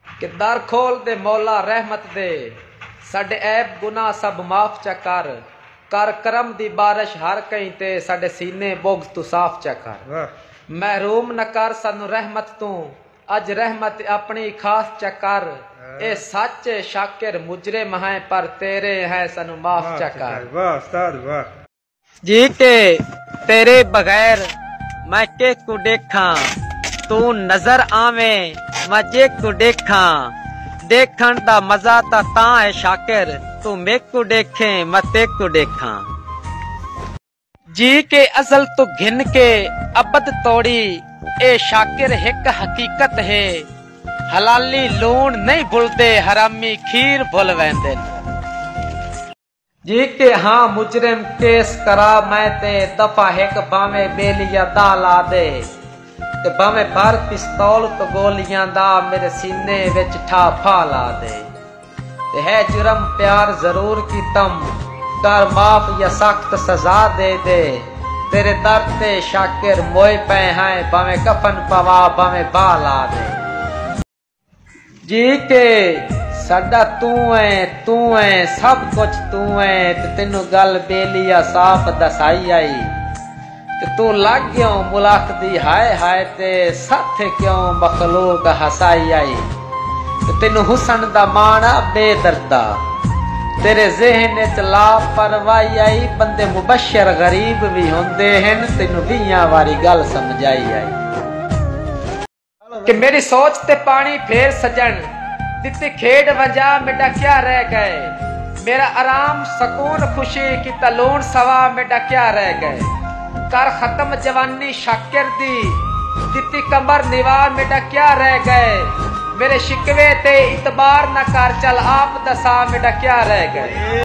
کہ در کھول دے مولا رحمت دے ساڈے عیب گناہ سب معاف چا کر کر کرم دی بارش ہر کہیں تے ساڈے سینے بغض توں صاف چا کر محروم نہ کر سانوں رحمت توں اج رحمت اپنی ای خاص چا کر اے سچ اے شاکر مجرم ہیں پر تیرے ہیں سانوں معاف چا کر۔ جی کے تیرے بغیر میں کے کوں ڈیکھاں توں نظر آویں میں جے کوں ڈیکھاں ڈیکھݨ دا مزہ تاں تاں ہے شاکر توں میکوں ڈیکھیں میں تیکوں ڈیکھاں جی کے ازل توں گھن کے ابد توڑی اے شاکر ہک حقیقت ہے حلالی لوݨ نئیں بھلدے حرامی کھیر بھل ویندن۔ جی تے ہاں مجرم کیس کرا میں تے دفع ہک بھانویں بیلی یا دا لا دے تے بھانویں بھر پستول توں گولیاں دا میرے سینے وچ ٹھا پھا لا دے تے ہے جرم پیار ضرور کیتم کر معاف یا سخت سزا دے دے تیرے در تے شاکر موئے پئے ہیں بھانویں کفن پوا بھانویں بھا لا دے۔ جی تے ساڈا توں ایں توں ایں سب کچھ توں ایں تے تینوں گل بیلی آ صاف دسائی آئی تے توں لگ گیوں ملاخ دی ہائے ہائے تے ستھ کیوں مخلوق ہسائی آئی تے تینوں حسن دا ماݨ آ بے دردا تیرے ذہن اچ لا پروائی آئی بندے مبشر غریب وی ہوندے ہن تینوں ویہاں واری گل سمجھائی آئی۔ کہ میݙی سوچ تے پاݨی پھیر سڄݨ ݙتی کھیݙ ونڄاں میݙا کیا رہ ڳئے میݙا آرام سکون خوشی کیتا لوݨ سواں میݙا کیا رہ ڳئے کر ختم جوانی شاکر دی ݙتی کمر نواں میݙا کیا رہ ڳئے میݙے شکوے تے اعتبار نہ کر چل آپ دساں میݙا کیا رہ ڳئے۔